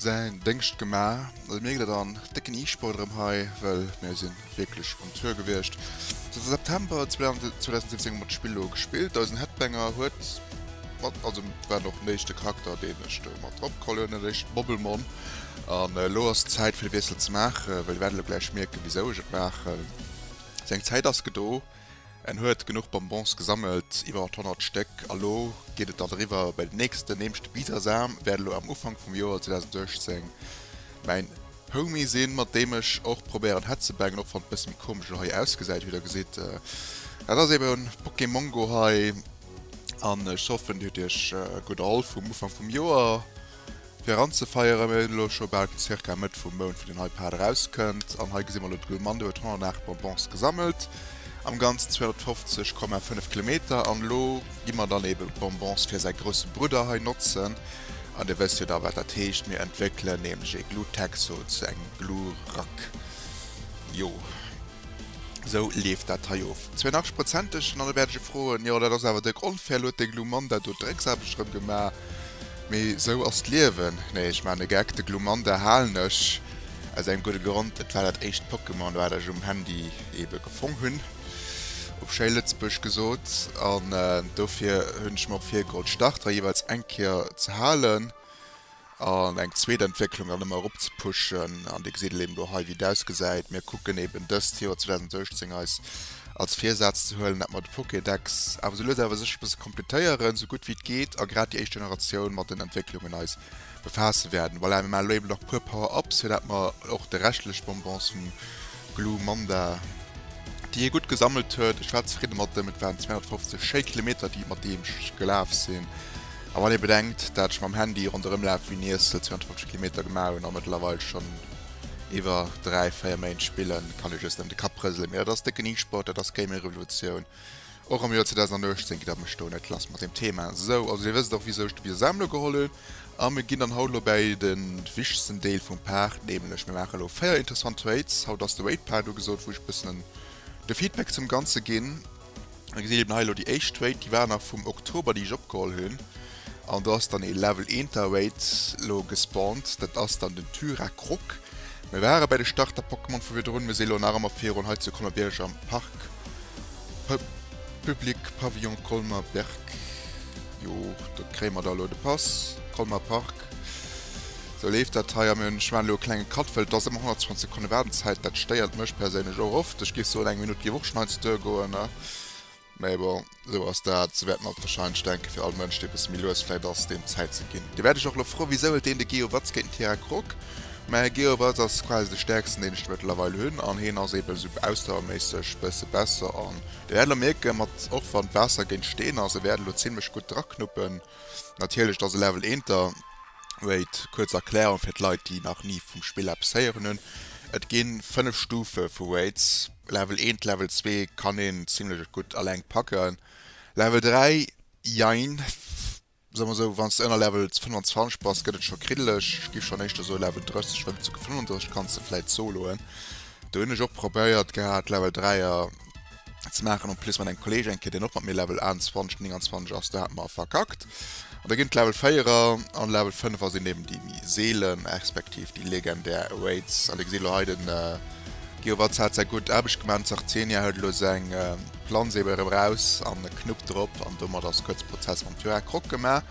säin Déngscht gemaach. Also mir gëtt et an décken E-Sport erëm hei, well mir sinn wierklech um Tour gewiescht. Sot de September 2017 mat Spill elo gespillt. Eisen Headbanger huet mat, also war och den éischte Charakter deen ech do mat drop geholl hunn, den éischten Bobbelmon. An elo ass d'Zäit fir de Wiessel ze maachen, well der wäert elo gläich mierken wisou ech et maachen. Seng Zäit ass gedo. En huet genuch Bonbons gesammelt, iwwert 100 Stéck, a lo geet et dann eriwwer bei den nächsten. Nämlech de Bisasam wäert elo am Ufank vum Joer 2018 mäin Homie sinn, mat deem ech och probéieren hetzebängen, och wann et e bësse méi komesch elo hei ausgesäit, wéi der gesitt. Dat ass eben Pokémongo hei, an ech hoffen, dir hutt iech gutt erholl vum Ufank vum Joer. Fir anzefeieren, mir hunn elo scho bal ca. Mëtt vum Mount wou den iPad erauskënnt an hei gesi mer elo de gudde Mann, dee huet 108 Bonbons gesammelt, am Ganzen 250,5 Kilometer an elo gi mer dann ebe Bonbons fir säi grousse Brudder hei notzen an Dir wësst jo da wat dat heescht, mir entwéckelen nämlech ee Glutex-o zu engem Glurack, jo. Sou leeft dat hei of. 82 Prozent duerch den allebäerdege Froen. Jo, dat ass awer dëck onfair. Elo huet de Glumanda do d'Drécksaarbecht erëm gemaach. Mee sou ass d'Liewen. Nee, ech maachen e Geck. De Glumanda halen ech aus engem gudde Grond. Et war dat éischt Pokémon, wat ech um Handy ebe gefong hunn, op schéi Lëtzebuergesch gesot. An dofir hunn ech mer och virgeholl, d'Starter jeeweils eng Kéier ze halen. an eng zweet Entwécklung dann ëmmer erop ze pushen. An Dir gesitt et eben elo hei, wéi et ausgesäit. Mir kucken eben dëst Joer 2018 eis als Virsaz ze huelen, dat mer de Pokédex awer sou lues awer sécher e bësse kompletéieren, sou gutt wéi et geet, a grad déi éischt Generatioun mat den Entwécklungen eis befaasse wäerten. Voilà, mir maachen elo eben nach e puer Power-ups, fir dat mer och de reschtleche Bonbons vum Glue Manda, déi hie gutt gesammelt huet, ech war zefridde mat ëm, et waren 250 schéi Kilometer, déi mat deem gelaf sinn, A wann ee bedenkt, dat ech mam Handy ronderëm laf wéi nees 22 Kilometer gemaach hunn a mëttlerweil schonn iwwer dräi, véier Méint spillen, kann ee just nëmmen de Kapp rëselen. Mee dat ass décken E-Sport, dat ass Gaming-Revolutioun. Och am Joer 2018 geet dat mech do net lass mat deem Thema. Sou, also dir wësst och wisou ech de Bier selwer elo geholl hunn. A mir ginn dann haut elo bäi de wichtegsten Deel vum Part, nämlech mir maache elo 4 interessant Trades. Haut ass de Weight Part ugesot, wou ech e bëssen de Feedback zum Ganze ginn. Dir gesitt eben hei elo déi éischt Weight, déi war nach vum Oktober, déi ech opgeholl hunn. An do ass dann ee Level eenter Weight elo gespawnt, dat ass dann den Thyrakrog. Mir ware bei de Starter-Pokémon vu virdrun, mir si elo nach ëmmer virun, hei zu Colmer-Bierg am Parc public, Pavillon Colmer-Berg. Jo, do kréie mer da elo de Pass, Colmer Parc. Sou leeft dat hei am Ech maan elo e klenge Cut well et ass ëmmer 120 Sekonne Waardenzäit. Dat stéiert mech perséinlech och oft. Ech géif soen eng Minutt géif och schonn heiansdo duergoen. Mee bon, esou ass dat. Sou wäerten alt warscheinlech denken. Fir all Mënsch dee e bësse méi lues vläit ass, deem Zäit ze ginn. Dee wäert ech och elo froe wisou huet deen de Geo Watz géint den Tira Grock? Mä Geo Watz ass quasi de stäerksten deen ech mëttlerweil hunn an heen ass eebe sou ausdauerméisseg bësse besser an Dir wäert elo mierken mat och wann d'Waasser géint Steen ass e wäert elo zimlech gutt draknuppen. Natierlech, dat ass e Level eenter Rate. Kuerz Erklärung fir d'Leit, déi nach ni vum Spill eppes héieren hunn, Et gi fënnef Stufe vu Rates, Level eent, Level zwee kann een zimmlech gutt eleng packen, Level dräi, jein, soe mer esou, wann s de ënner Level 25 bass, gëtt et scho kriddeleg. Ech giff schonn éischter soe Level 30, well bis zu 35 kanns de vläit soloen. Do hunn ech och probéiert gehat, Level dräier. ze maachen en plus mat engem Kolleeg eng Kéier deen och mat mir Level 28 an 29 ass do hat mer verkackt an da ginn d'Level 4er an Level 5er sinn eben déi méi seelen respektiv déi legendär Raids an dir gesitt elo hei den Geowatt hat säi gutt Aarbecht gemaach, den Zartenia huet elo seng Planz eben erëm raus an e Knupp drop an domat ass kuerz Prozess mam Tyrak Croc gemaach.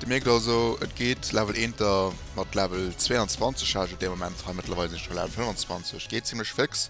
Dir mierkt also et geet Level Eenter mat Level 22 ha ech et dee Moment hei, mëttlerweil sinn ech bei Level 25, geet zimmlech féx.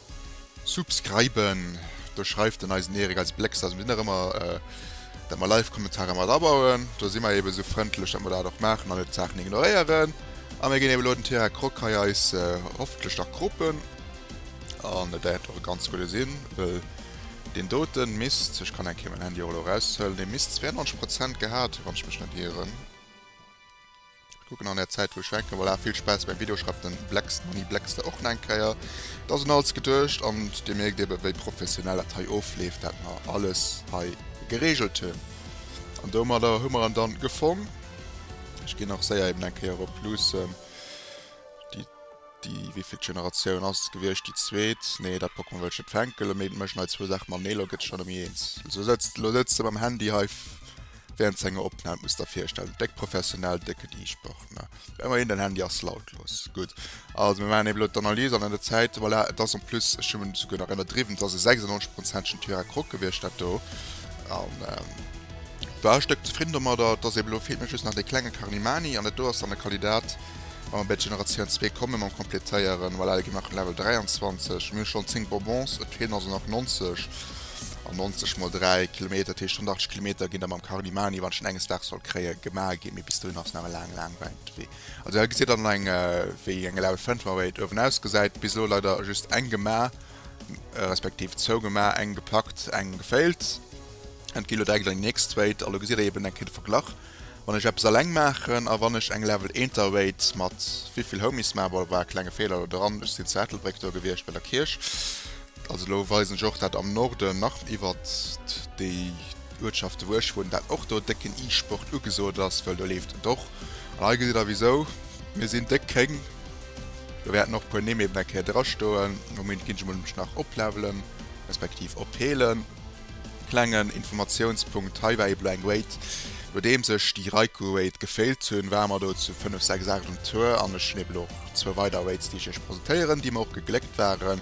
Subscriben, do schreift den eisen Erik als Blécks aus dem Dinner ëmmer, dat mer Live Kommentarer mat abauen. Do si mer eben esou frëndlech, dat mer dat och maachen an net d'Saachen ignoréieren. A mir ginn eben elo den Tierra Croc hei eis hoffentlech nach croppen, an et däerft och e ganz gudde sinn, wëll deen doten misst, ech kann eng Kéier mäin Handy och elo eraushuelen, dee misst 92 Prozent gehat hu wann ech mech net ieren. Kucken an der Zäit wou ech hänken. Voilà, vill Spaass beim Video, schreift den Blex Money Blexter och nach eng Kéier. Et ass un alles geduecht an dir mierkt eben wéi professionell dat hei ofleeft wat mer alles hei geregelt hunn. An domadder hu mer en dann gefong. Ech ginn nach séier eben eng Kéier erop luussen. Déi wéivillt Generatioun ass et gewiescht? Déi zweet? Nee, dat Pokémon wëll ech net fänkele, mee et mécht nei zwou Saache matenee. Lo gëtt et schonn elo méi eens. Lo sëtzt, lo sëtzt e mam Handy hei Während senger Opnahm muss der virstellen déck professionell décken Iichpartner emmerhin den Handy ass lautlos gudd also mir machen eben elo d'Analys an an der Zäit voilà et ass en plus ech hun esouguer nach ennerdriwwen et ass e 96 prozentschen Tyra Croc gewierscht dat do an war e Stëck zefridden domadder et ass eben elo fehlt mir just nach dee klenge Carnimani an dat do ass dann e Kandidat wa mer bei d'Generatioun 2 kommen mam kompletéieren voilà da gi mer nach op den Level 23 mir hu schonn 10 Bonbons et fehlen also nach 90. an 90 mol 3 Kilometer, dat heescht 180 Kilometer ginn da mam Carlimani, wann ech en enges Daags sollt kréien, gemaach ginn. Mee bis dohin ass nach e laange, laange wäit Wee. Also hei gesitt der dann eng, wéi eng Eleven Phantom awer eent uewen ausgesäit. Bis elo leider just eng gemaach, respektiv zwou gemaach, eng gepackt, eng geféilt. Et ginn elo direkt an déi nächst Wéit a lo gesitt der eben eng Kéier de Verglach. Wann ech eppes alleng maachen a wann ech eng Level Enter Wait mat wéivill Homies maa bon, war e klenge Feeler elo dran, ech sinn zu Ettelbréck do gewiescht bei der Kierch, also elo weisen ech och dat am Norden nach iwwert déi Uertschaften wou ech wunnen, dat och do décken E-Sport ugesot ass, wëll do leeft et och an hei gesitt der wisou mir sinn déck kéng, do wäerten och e puer Nimm eben eng Kéier drastoen, am Moment ginn ech emol emch nach oplevelen respektiv opheelen. Klengen Informatiounspunkt, hei war ee Blank Wait, nodeems ech déi Raiku Wait geféilt hunn, ware mer do zu 5, 6, 8 um Tour an ech hunn eben och zwou weider Waits déi ech iech presentéieren, déi mer och gegléckt waren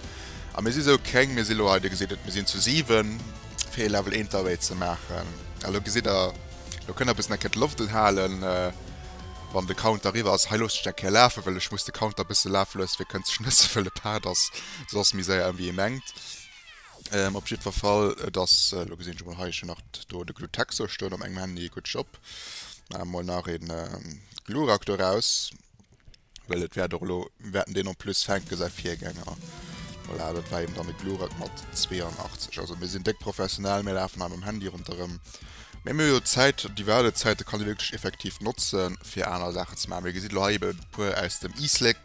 a mir si sou kréng, mir si lo hei, dir gesitt et, mir sinn zu 7 fir ee Level Inter Wait ze maachen a lo gesitt der, lo kënnt der bëssen eng Kéier d'Loft unhalen wann de Counter eriwwer ass, hei loosse ech et eng Kéier lafen, well ech muss de Counter bësse lafe loosse fir kënnt sech net ze wëlle pardon, soss ass méi séier wéi ee mengt. Ähm op jiddwer Fall, et ass, elo gesinn ech emol hei, ech hunn nach do de Glutexo stoen op mengem Handy, gutt Job. Maache mer emol nach een Glurak doraus, well et wäert och elo, mir wäerten deen en plus fänken, säi Virgänger. Voilà, dat war eben dann de Glurak mat 82. Also mir sinn déck professionell, mir lafen hei mam Handy ronderëm. Mee mir hu jo d'Zäit, déi Waardezäit, déi kann ee wierklech effektiv notze fir aner Saachen ze maachen. Dir gesitt elo hei eben e puer aus dem Easleck.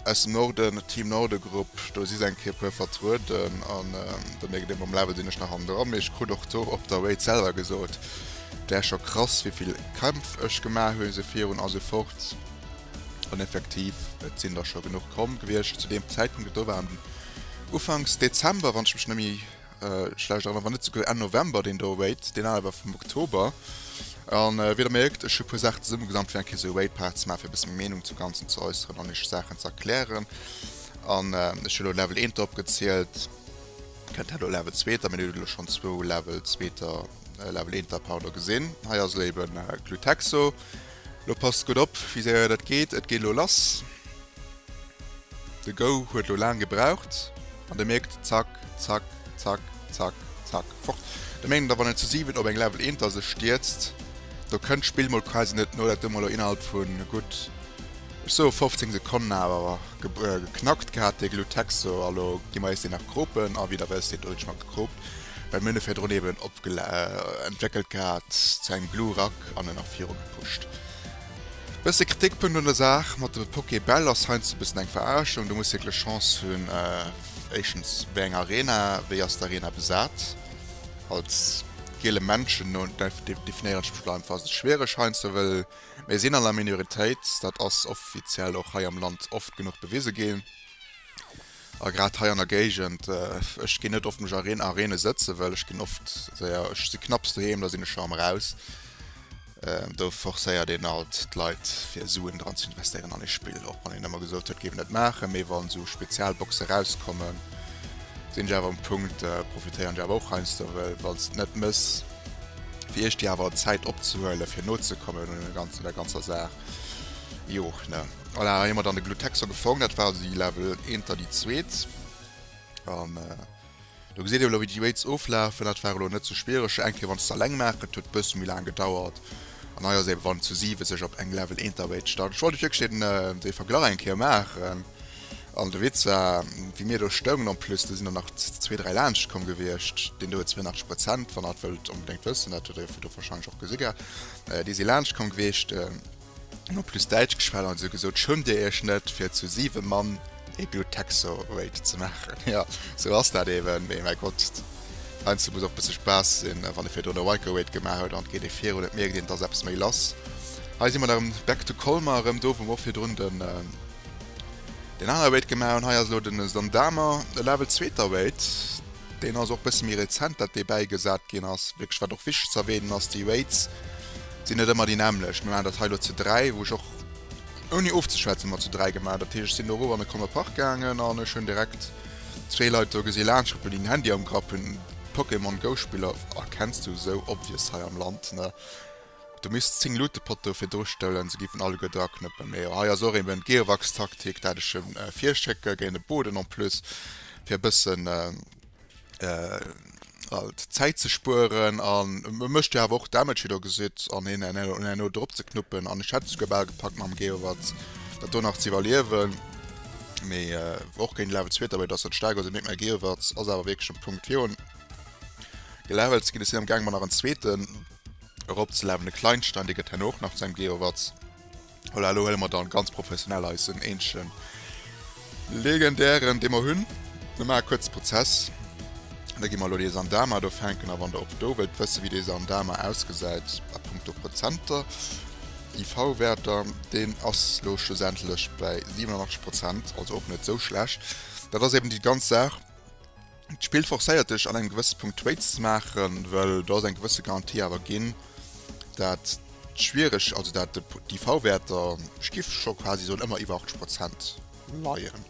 Aus dem Norden, Team Norde Grupp, do si se eng Kéier puer vertrueden an do mierkt ee mam Level sinn ech nach am Dra. Mee ech krut och do op der Wait selwer gesot, däer scho krass wéivill Kämpf ech gemaach hunn, esou virun esou fort an effektiv et sinn der scho genuch komm gewiescht zu deem Zäitpunkt. Et do waren ufanks Dezember wann ech mech net méi Äh, schlecht erënnert, wann net souguer Enn November, deen do Raid, deen anere war vum Oktober. An äh, wéi der mierkt, ech hu puer Saachen zesummegesammelt fir eng Kéier sou Raid-Part ze maachen, fir e bësse meng Meenung zum Ganzen ze äusseren an iech Saachen ze erklären. An äh, ech hu lo Level 1 drop gezielt, kënnt hei lo Level 2 ter, mee dir hutt lo schonn zwou Level 2 ter, äh, Level 1 ter Powder gesinn. Hei ass lo eben äh, Glutexo. Lo passt gutt op, wéi séier dat geet, et geet lo lass. De Go huet lo laang gebraucht an de mierkt zack zack zack zack zack fort. De mengen da wann en zu 7 op eng Level Enter sech stierzt do kënnt d'Spill mol quasi net no, dat hu mer lo innerhalb vun gutt ech soe 15 Sekonnen awer geknackt gehat dee Glutex do. A lo gi mer eis deen nach cropen a wéi der wësst deen do hunn ech mer gecropt well mir hunn e virdrun eben entwéckelt gehat zu engem Glurak an en nach viru gepusht Bësse Kritikpunkt un der Saach mat de Pokébäll ass heiansdo e bëssen eng Veraarschung. Du muss wierklech Chance hunn, éischtens wéi eng Arena, wéi ass d'Arena besat? Als giele Männchen no definéieren ech mech elo einfach, ass et schwiereg heiansdo, well mir sinn an der Minoritéit, dat ass offiziell och hei am Land oft genuch bewise ginn. A grad hei an der Géigend, ech ginn net oft mech a Reen a Reene sëtzen, well ech ginn oft, séier, ech si knapps doheem, da sinn ech scho am Raus. Do forcéiert een alt d'Leit fir Suen dran ze investéieren an ee Spill, och wann een ëmmer gesot huet, géif en net maachen, mee wann esou Spezialboxe rauskommen, sinn ech awer um Punkt, profitéieren ech awer och heiansdo, well wann s de et net mëss, fir iech déi awer Zäit opzehuelen, fir nozekommen un dem ganzen, der ganzer Saach. Jo ne voilà hei hu mer dann de Glutexer gefong, dat war also déi Level eenter déi zweet an äh, do gesitt ee lo wéi déi Raids oflafen. Dat war elo net sou schwiereg, eng Kéier wann s de alleng maach, et huet e bësse méi laang gedauert an hei ass eben wann zu siwe sech op eng Level eenter Raid start. Ech wollt lech wierklech den äh dee Verglach eng Kéier maachen an de Witz war wéi mir do stoungen en plus do sinn der nach zwee dräi laanscht komm gewiescht, deen do huet 82 Prozent wann der dat wëllt onbedéngt wëssen, dat huet der jo vun do warscheinlech och gesi gehat. Déi si laanscht komm gewiescht, hunn en plus Däitsch geschwat an se gesot, Schëmmt dir iech net, fir zu siwe Mann ee Bluttaxo-Raid ze maachen? Jo, esou ass dat eeben. Mee mäi Gott, heiansdo muss och e bësse Spaass sinn. Wann ee virdrun e Ryker-Raid gemaach huet an et geet ee virun, et mierkt een, et ass eppes méi lass. Hei si mer da rëm back to Colmar, erëm do, wou mer och virdrun den anere Raid gemaach hunn. Hei ass elo de Zandamer e Level-Zweeter-Raid. Deen ass och bësse méi rezent, dat dee bäigesat ginn ass. Wierklech, wat och wichteg ze erwänen ass, déi Rates sinn net ëmmer déi nämmlecht. Mir maachen dat hei elo zu dräi, wou ech och, ouni ofzeschwätzen, mat zu dräi gemaach. Dat heescht, ech sinn do erof an de Commer Park gaangen an ech hunn direkt zwee Leit do gesi laanschrëppe, déi en Handy am Grapp hunn, Pokémon Go Spiller. Ah, kenns du esou Obvious hei am Land, ne? Du misst 10 Luute Poteau fir dru stellen, se giffen alleguer dra knëppen. Mee jo, hei ass och eben Gearwachs Taktik dat ech hun virschécken géint e Boden en plus fir e bëssen halt Zäit ze spueren an e mecht jo awer och Damage wéi der gesitt an hien en un en no drop ze knuppen an ech hätt esouguer bal gepackt mam Geowatz dat do nach ze iwwerliewen. Mee och géint Level zweeter Welt ass dat staark, also mierkt mäi Geowatz ass awer wierklech um Punkt fir un gelevelt ze ginn. Ech sinn am gaang mer nach en zweeten. erop ze lafen de kleinsten an dee gëtt herno och nach zu engem Geowatts. Voilà, elo huele mer dann ganz professionell eisen eenzegen legendären dee mer hunn. Mir maache kuerz Prozess. Da gi mer elo dee Sandama do fänken a wann der och do wëllt wësse wéi dee Sandama ausgesäit a punkto Prozenter, IV-Wäerter, deen ass elo schlussendlech bäi 87 Prozent, also och net esou schlecht. Dat ass eben déi ganz Saach. D'Spill forcéiert dech an engem gewësse Punkt Trades ze maachen, well do ass eng gewësse Garantie awer ginn, dat d'Schwiereg-, also dat d'IV-Wäerter giff scho quasi soen ëmmer iwwer 80 Prozent leien.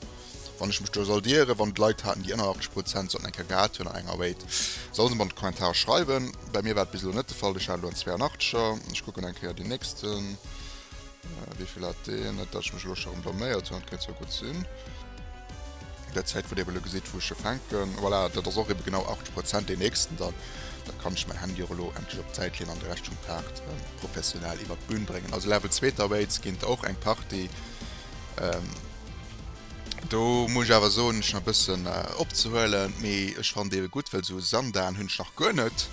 Wann ech mech do sollt ieren, wann et Leit haten déi ënner 80 Prozent sollten eng Kéier gehat hunn an enger Raid, solle se mer an d'Kommentarer schreiwen. Bei mir war et bis elo net de Fall, ech hat elo en 82er, ech kucken eng Kéier deen nächsten. Wéi vill hat deen? Net dat ech mech elo scho rëm blaméiert hunn, dat kéint zwar gutt sinn. Där Zäit, wou Dir elo gesitt, wou ech jo fänken, voilà, dat ass och ebe genau 80 Prozent. Deen nächsten dann, da kann ech mäi Handy och elo endlech op d'Säit leeën an de Rescht vum Part professionell iwwer d'Bün bréngen. Also Level Zweeter Weights ginn och eng Partie. Do muss ech awer soen, hunn ech nach e bëssen opzehuelen, mee ech fannen ebe gutt, well esou e Sandaarm hunn ech nach guer net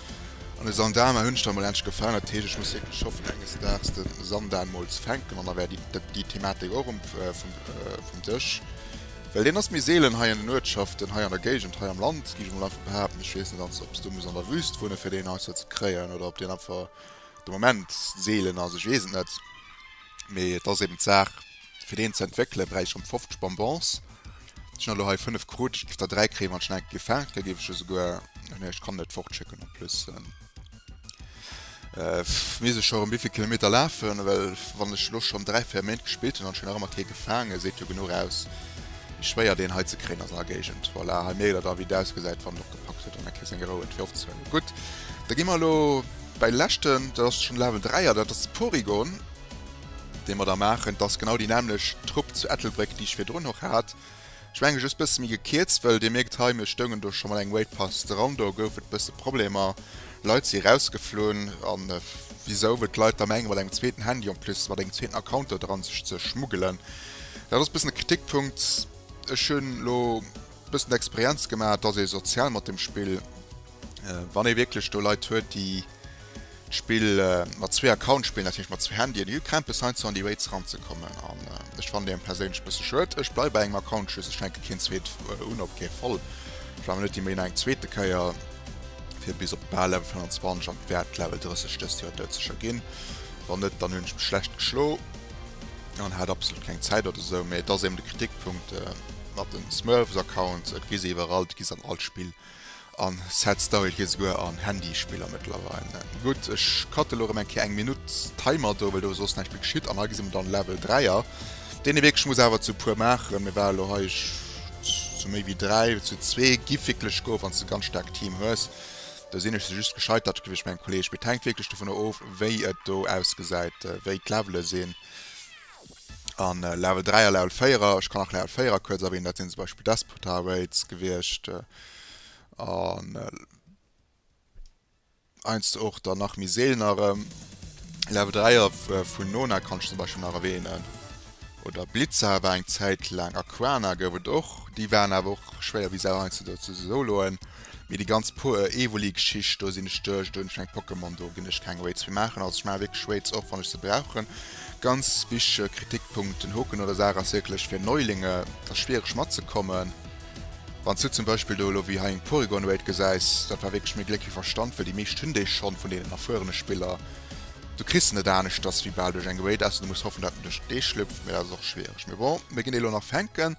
an e Sandaarma hunn ech dann mol endlech gefaangen. Dat heescht, ech muss wierklech hoffen enges Daags de Sandaarm mol ze fänken an da wär déi Thematik och um vum Dësch, well deen ass méi seelen hei an den Uertschaften, hei an der Géigend, hei am Land géif ech mol einfach behaapten. Ech weess net als ob s du muss an der Wüst wunne fir deen heiansdo ze kréien oder ob deen einfach de Moment seelen ass, ech weess et net, mee et ass eben d'Saach, Fir deen ze entwéckele bräicht ech ronn 50 Bonbons. Ech hunn der elo hei 5 krut. Ech géif der 3 kréien, wann ech nach eng Kéier gefaangen kritt. Da géif ech jo souguer, ah nee, ech kann net fortschécken. En plus misst ech jo erëm wivill Kilometer lafen? Well wann ech elo schonn dräi, véier Méint gespillt hunn an ech hunn nach ëmmer kee gefaangen, seet jo genuch aus, wéi schwéier deen hei ze kréien ass an der Géigend. Voilà, hei mierkt der da, wéi et ausgesäit, wann en opgepackt huet an eng Kéier seng Rou huet, fir ofzehuelen. Gutt, da gi mer elo bei de leschten. Dat ass schonn Level 3 a dat ass de Porygon. déi mer da maachen, d'ass genau déi nämlech Trupp zu Ettelbréck, déi ech virdrun och hat, ech menge just bësse méi gekierzt, wëll Dir mierkt hei, mir stoungen do scho mat engem Waitpass dran, do gouf et bësse Problemer, Leit si erausgeflunn, a wisou wëll d'Leit da menge mat engem zweeten Handy, en plus mat engem zweeten Account do dran, sech ze schmuggelen? Dat ass bëssen e Kritikpunkt. Ech hunn elo bëssen d'Experienz gemaach, et ass ee sozial mat dem Spill. Wann ee wierklech do Leit huet, déi d'Spill mat zwee Accounts spillen, dat heescht mat zwee Handyen, hu Krämpes heiansdo an déi Rates eranzekommen. An ech fannen déi perséinlech e bësse schued. Ech bleiw bei engem Account, just ech fänke keen zweet un, op kee Fall. Ech war mir net immer no eng zweete Kéier, fir bis op bal Level 25, an et wäert Level 30 dëst Joer doudsécher ginn. Wann net, dann hunn ech mech schlecht geschlo an hat absolut keng Zäit oder esou. Mee et ass eben de Kritikpunkt mat den Smurfs Accounts, et gi se iwwerall, et gi se an all Spill. An Sad Story gëtt esouguer an Handyspiller mëttlerweil. Gutt, ech cutte lo rem eng Kéier eng Minutt Timer do, well do ass soss näischt méi geschitt. An hei gesi mer dann Level 3 er, deen ee wierklech muss awer zu puer maachen. Mir ware lo hei zu méi wéi 3, zu zwee giff wierklech gouf, wann s de ganz staarkt Team hues. Do sinn ech just gescheitert géif ech mengen, Kolleeg. Mee et hänkt wierklech dovunner of, wéi et do ausgesäit, wéi d'Levele sinn. An Level 3 a Level 4, ech kann nach Level 4 kuerz erwähnen, dat sinn zum Beispill Despotar Raids gewiescht, an heiansdo och dann nach méi seelen erëm. Level 3er vun Nona kann ech zum Beispiel nach erwähnen, oder Blitza war eng Zäit laang, Aquana gouf et och, déi waren awer och schwéier wéi Sau heiansdo, ze soloen. Mee déi ganz po äh Evoli Geschicht do sinn ech duerch, do hunn ech meng Pokémon, do ginn ech keng Raids méi maachen, also ech maache wierklech Raids och wann ech se brauchen. Ganz wich äh Kritikpunkt, den Hoken oder Sarah ass wierklech fir Neulinge da schwiereg matzekommen. Wanns du zum Beispill do elo wéi hei eng Porygon Raid gesäis, dat war wierklech méi Gléck wéi Verstand, well déi meescht hunn déi schonn vun deenen erfuerene Spiller. Du kriss se net aneschters wéi bal duerch eng Raid, ausser du muss hoffen dat en duerch d'Dee schlüpft, mee dat ass och schwiereg. Mee bon, mir ginn déi elo nach fänken.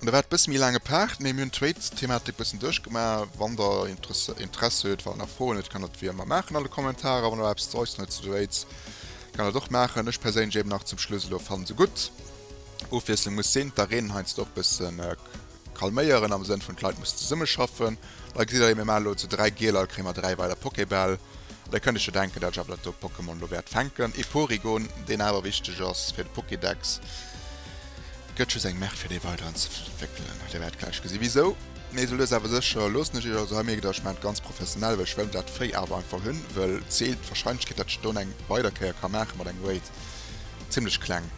Da war et bësse méi laange Part, mee mir hunn d'Trade-Thematik bëssen duerchgemaach. Wann der Interessi huet, wann der nach Froen huet, kann der dat wéi ëmmer maachen an de Kommentarer. Wann der nach eppes ze äusseren huet zu de Rates, kann der dat och maachen. Ech perséinlech eben nach zum Schluss elo fannen se gutt. Ofwiesslung muss sinn. D'Arenen heiansdo och bësse calméieren am Sënn vun d'Leit mussen zesumme schaffen. Da gesitt der jo, mir maachen elo zu dräi Gieler, da kréie mer dräi weider Pokébäll. An da kënnt iech jo denken, dat ech awer dat do Pokémon elo wäert fänken. Ee Porygon, deen awer wichteg ass fir de Pokédex. Gëtt just eng Merk fir dee weider anzewéckelen. Dir wäert gläich gesi wisou. Mee esou lues awer sécher loossen ech iech also hei mierken, datt ech maachen et ganz professionell, well ech wëll dat Véi awer einfach hunn, wëll d'Seele, d'Warscheinlechkeet datt ech et dann eng weider Kéier ka maache mat engem Weight, zimmlech kleng,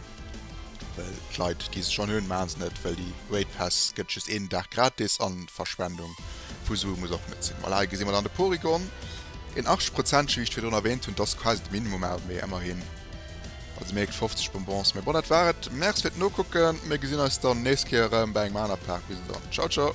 well d'Leit déi se schonn hunn maache se net, well déi Weight Pass gëtt just een Dag gratis an d'Verschwendung vu Sue muss och net sinn. Voilà, hei gesi mer dann de Porygon, een 80 Prozent Gewiicht, wéi virdrun erwähnt hunn, dat ass quasi de Minimum awer mee ëmmerhin. Also mir ekt 50 Bonbons, mee bon dat war et. Merc fir d'Nokucken, mir gesinn eis dann nächst Kéier erëm bei engem aner Paak. Bis dann, ciao ciao.